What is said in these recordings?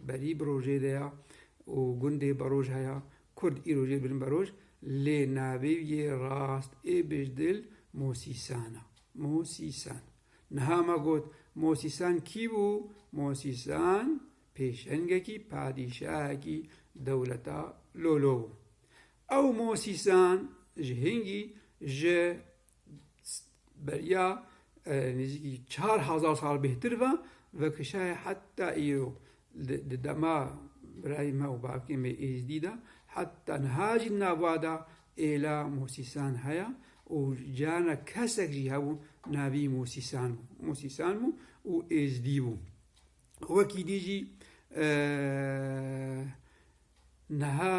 Berî bi rojê de ya û gundê beroj heya. Kurd îro jê bin beroj lê navê yê rast ê bijdil Mosîsan a. Mosîsan. Niha me got Mosîsan kî bû? Mosîsan pêşengekî padîşahekî dewleta Lolo bû. Ew Mosîsan ji hingî ji beriya nêzîkî çar hezar sal bêhtir ve vekişaye heta îro di dema birayê me û bavkê me êzdî de heta niha jî di nava de êla mosîsan heye û carna kesek jî hebû navî mosîsan bû mosîsan bû û êzdî bû wekî dî jî niha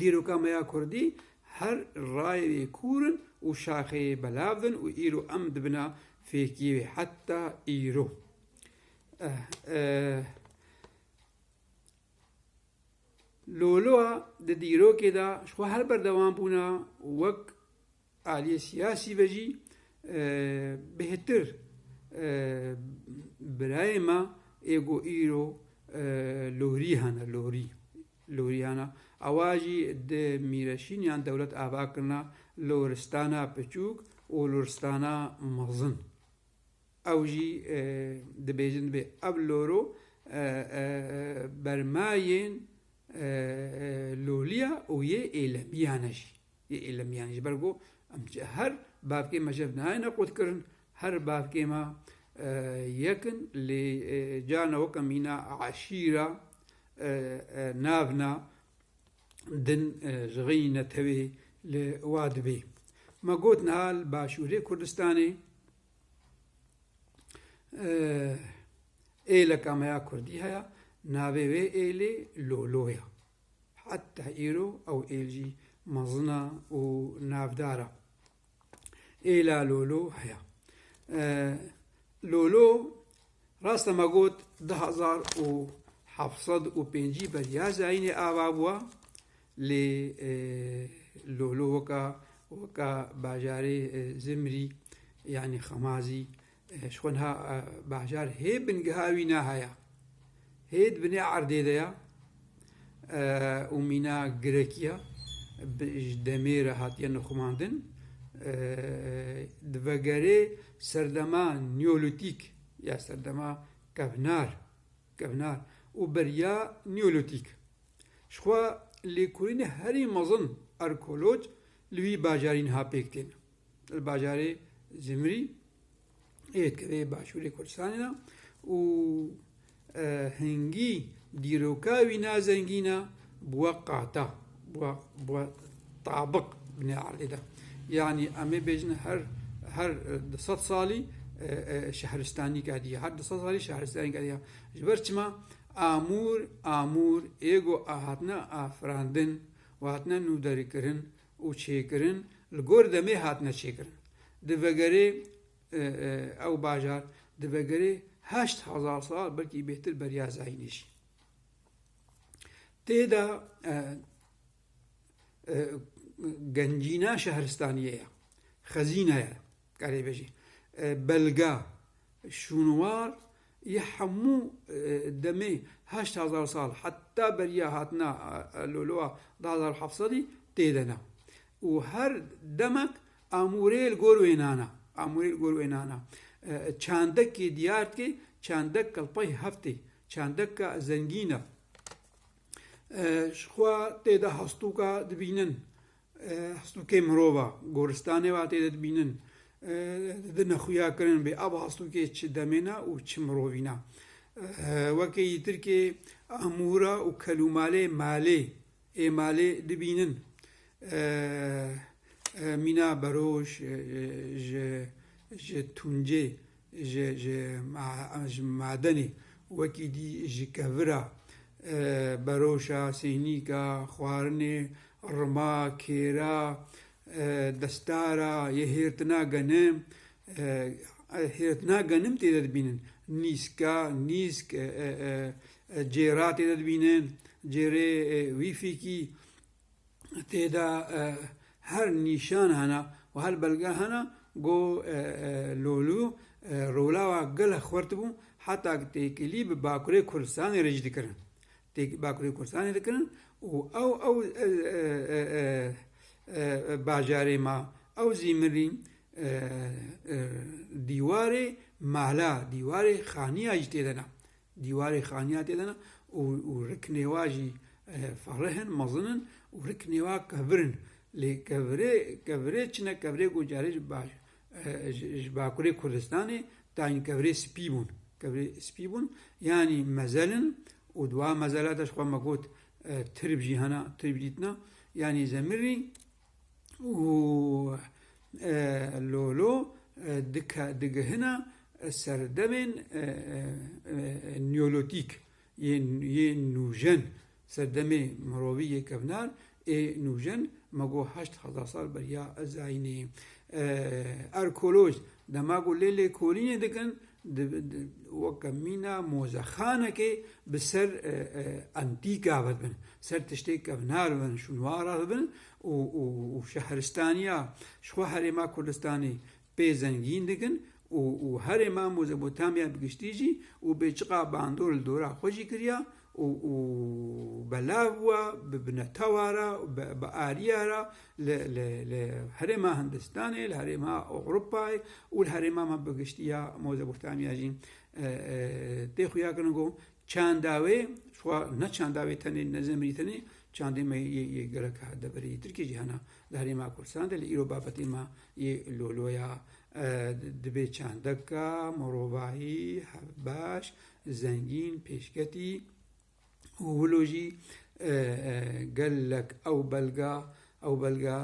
Dîroka me ya kurdî her rayeyê kûr in û şaxeyê belav in û îro em di bina fêkiyê wê heta îro. Loloa di dîrokê de ji xwe her berdewam bûna wek Aliyê siyasî ve jî bêhtir birayê me ê ku îro lorî hene lorî lorî hene ewa jî di Mîreşîn yan dewlet ava kirina loristana piçûk û loristana mezin. Ew jî dibêjin dibê ev loro bermayên loliya û yê êlemiyan e jî. Yê îlimiyan ji ber ku em her bavkê me ji hev nayêne qutkirin, her bavkê me yek in lê carna weke mîna eşîra, navna, din ji rêyî netewê li wa dibê. Me got niha li Başûrê Kurdistanê êleka me ya kurdî heye, navê wê êlê Lolo ye. Heta îro ew êlcî mezin e û navdar e. Êla Lolo heye. Lolo raste me got du hezar û heft sed û pêncî ber ya zayînê ava bûye lê Lolo weka weka bajarê Zimrî yanî Xemazî Ji xwe niha Bahjar hê bingeha wî ne haya. Hê di binê erdê de ya û mîna girekî ya ji demê re hatiye nixumandin. Di vegerê serdema Nîolîtîk ya serdema kevnar kevnar û beriya Nîolîtîk ji xwe lêkolînê herî mezin arkeolog li wî bajarî niha pêk tên. li bajarê Zimrî ê dikeve başûrê Kurdistanê de û e, hingî dîroka wî nazengîn e bûye qata, bûye bûye tabik binê erdê de. Yanî em ê bêjin her her di sed salî e, e, şehristanî kediye, her di sed salî şehristanî kediye. Ji ber çima amûr amûr êgo a hatine afirandin û hatine nûderîkirin û çêkirin li gor demê hatine çêkirin. Di vegerê ew bajar di vegerê heşt hezar sal belkî bêhtir beriya zayînê jî tê de gencîna şehristaniyê ye, xezîne ye, karê bêjî belga şûnwar Yê hemû demê heşt hezar sal heta beriya hatina Loloa du hezar û heft sedî tê de ne û her demek amûrê li gor wê nana amûrê li gor wê nana çandekê diyar dike çandek kelpay hev tê çandeka zengîn e ji xwe tê de hestûka dibînin Hestokê mirova goristanê ve hatê didbînin, di nexuya kirin bê ev hestokê çi demê ne û çi mirovî ne. Wekî yî Tirkê amûra û kelûmalê malê ê malê dibînin. Mîna Beroj ji ji Tuncê ji ji ji madenê wekî dî ji kevira, beroşa, sênîka, xwarinê, rima, kêra, destara, yê hêrtina genim, hêrtina genim tê de dibînin, nîska, nîsk, cêra tê de dibînin, cêrê wîfîkî, tê de her nîşan hene û her belge hene ku Lolû rolawa gelek xurt bû heta ku têkilî bi Bakurê Kurdistanê re jî dikirin têkilî bi Bakurê Kurdistanê dikirin û ew ew bajarê ma ew zî mirî dîwarê mala dîwarê xaniya jî tê de ne. Dîwarê xaniya tê de ne û riknêwa jî ferih in, mezin in û riknêwa kevir in. Lê kevirê kevirê çi ne kevirê ku carê ji baş ji bakurê Kurdistanê tayîn kevirê spî bûn. Kevirê spî bûn yanî mezel in û di wan mezelate jixwe me got tirb jî hene, tirb dîtina yanî zemirî, û lolo digihina serdemên neolîtîk yên nûjen, serdemê mirovî yê kevnar ê nûjen ma ku heşt hezar sal beriya Ezayînê. Arkeoloj dema ku lê lêkolînê dikin Weke mîna mozexanekê bi ser entîka ve dibin, ser tiştê kevnar dibin, şûnwara dibin û şehristaniya ji xwe herêma Kurdistanê pê zengîn dikin û herêma Mozepotamya bi giştî jî û bê çiqa bandor li dora xwe jî kiriya û û belav bûa bi binetawa re û bi bi ariya re li li li herêma Hindistanê, li herêma Ewropayê û li herêma me bi giştî ya Mozebotamiya jî tê xuya kirin ku çanda wê xwe ne çanda wê tenê ne zimrî tenê çandê me yê yê geleka deverê yê Tirkiyê jî hene li herêma Kurdistanê de lê îro babetê me yê loloya dibê çandeka mirovahî hevbeş Zengîn, pêşketî û wilo jî gelek ew belga ew belga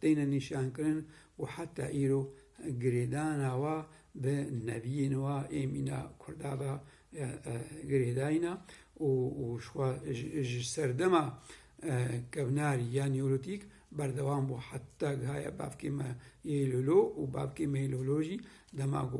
têne nîşankirin û heta îro girêdana wa bi neviyên wa ê mîna Kurda ve girêdayîna û ji serdema kevnarî ya Nîolîtîk berdewam bû heta gihaye bavkê me yê Lolo û bavkê me yê Lolo jî dema ku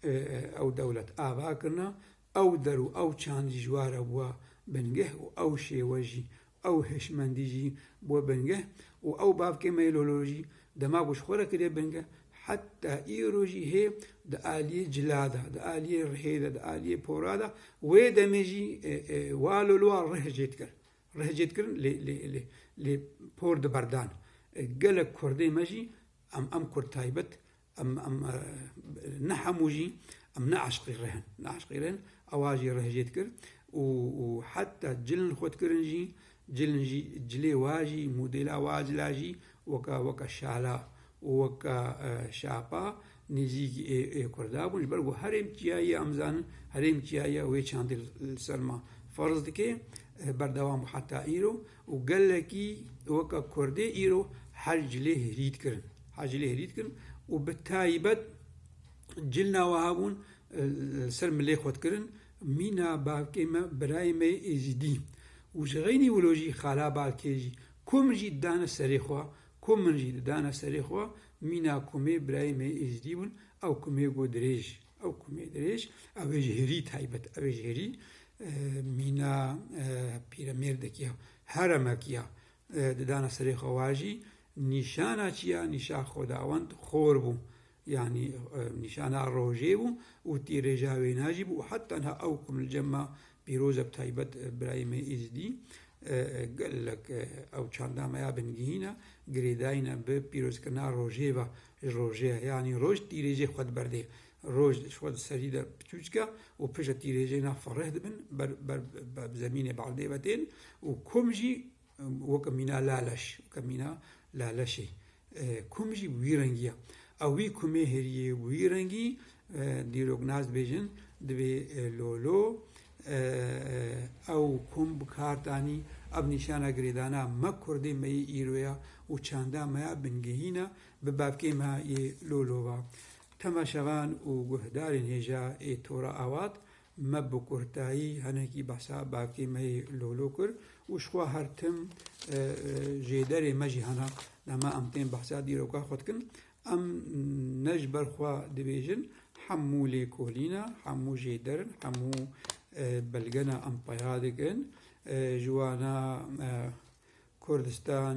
Ew dewlet ava kirina, ew der û ew çand jî ji we re bûye bingeh û ew şêwe jî, ew hişmendî jî bûye bingeh û ew bavkê me yê lolo jî dema ku ji xwe re kiriye bingeh heta îro jî hê di aliyê cila de, di aliyê rihê de, di aliyê pora de wê demê jî wa loloa rih jê dikir. Rih jê dikirin lê lê lê lê por di berdan. Gelek kurdê me jî em em kurd taybet Em em ne hemû jî em ne eşqî rih in. Ne eşqî rih in ewa jî rih jê dikir û û heta cilin xwe dikirin jî cilin jî cilê wa jî modêla wa cila jî weka weka şala û weka şapa nêzîkî ê ê Kurda bûn. Ji ber ku herêm çiyayê em zanin herêm çiyayê wê çandê li ser ma ferz dike berdewam bû heta îro. Û gelekî weka kurdê îro her cilê hirî dikirin. Her cilê hirî dikirin û bi taybet cilna wiha bûn li ser milê xwe dikirin. Mîna bavkê me, birayê me yê êzîdî û ji xeynî wilo jî xala bavkê jî ku min jî didane serê xwe, ku min jî didane serê xwe, mîna ku me birayê me yê êzîdî bûn, ew ku me got dirêj. Ew ku me dirêj ew ê ji herî taybet ew ê ji herî mîna pîremêrdekî ya heremekî ya didana serê xwe wa jî nîşana çi ya nîşa xwedawend xor bû yanî nîşana rojê bû û tîrêja wêna jî bû û heta niha ew ku li cem ma Pîrozek taybet birayê me Îzidî gelek ew çanda me ya bingehîn e, girêdayîne bi pîrozkirina rojê ve ji rojê ye. Yanî roj tîrêjê xwe diberdê. Roj ji xwe di serî de piçûçik e û piştre tîrêjê na fereh dibin, ber ber bi zemînê berdê ve tên û kom jî Weke mîna laleş, weke mîna laleşê kum jî bi wî rengî ye. Ew wî kumê hêrîyê bi wî rengî dîrok nas dibêjin dibê lolo. Ew kum bi kar tanî. Ev nîşana girêdana me kurdê me yê îro ye û çanda me ya bingehîn e bi bavkê me yê lolo ve. Temaşevan û guhdarên hêja ê tora avat Me bi kurtayî hinekî behsa bakê me yê lolo kir û ji xwe her tim jêderê me jî hene. Dema em tên behsa dîroka xwe dikin, em ne ji ber xwe dibêjin, hemû lêkolîn e, hemû jêder in, hemû belge ne em peya dikin. Ji wana Kurdistan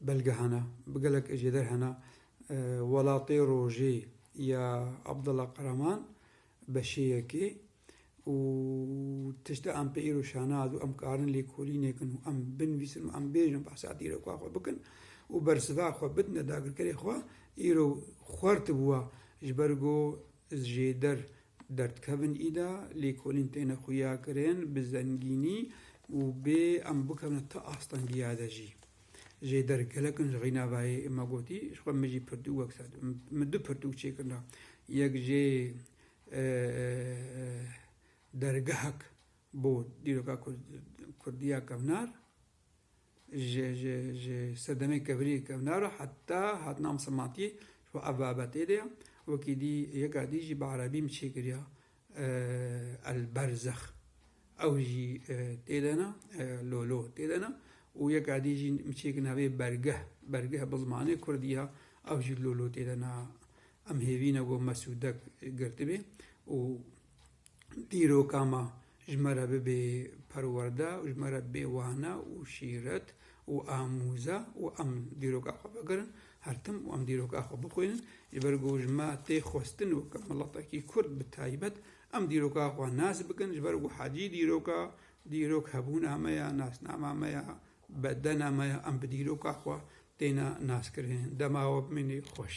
Belge hene, bi gelek ejêder hene, Welatê Rojê ya Abdullah Karaman beşêyekê û tişta em pê îro şanaz û em karin lêkolînêkin û em binvîsin û em bêjin behsa dîroka xwe bikin û bersiva xwe bidine dagirkerê xwe îro xwert bûe ji ber ku zêder Derdikevin îda lêkolîn têne xuyakirin bi zengînî û bê em bikevne ti astengîya de jî. Jê der gelek in ji xînavayê ma gotî ji xwe min jî pirtûk wek ser dû. Min du pirtûk çêkirina. Yek jê dergehek bo dîroka kurdî ya kevnar. Ji ji ji sedemên kevirî kevna re heta hatina misilmantiyê ji bo ev babetê de ye. Wekî dî yeka dî jî bi erebî min çêkiriya El Berzex ew jî tê de ne lolo tê de ne û yeka dî jî min çêkir navê Bergeh Bergeh bi zimanê kurdî ye ew jî lolo tê de ne. Em hêvî ne ku Mesûdek girtibê û Dîroka me ji me re bibê perwerde û ji me re bibê wane û şîret û amûze û em dîroka xwe bigirin her tim û em dîroka xwe bixwînin ji ber ku ji me tê xwestin weke miletekî Kurd bi taybet em dîroka xwe nas bikin ji ber ku hecî dîroka dîrok hebûna me ya, nasnama me ya, bedena me ya, em bi dîroka xwe têne naskirin. Dema we bimîne xweş.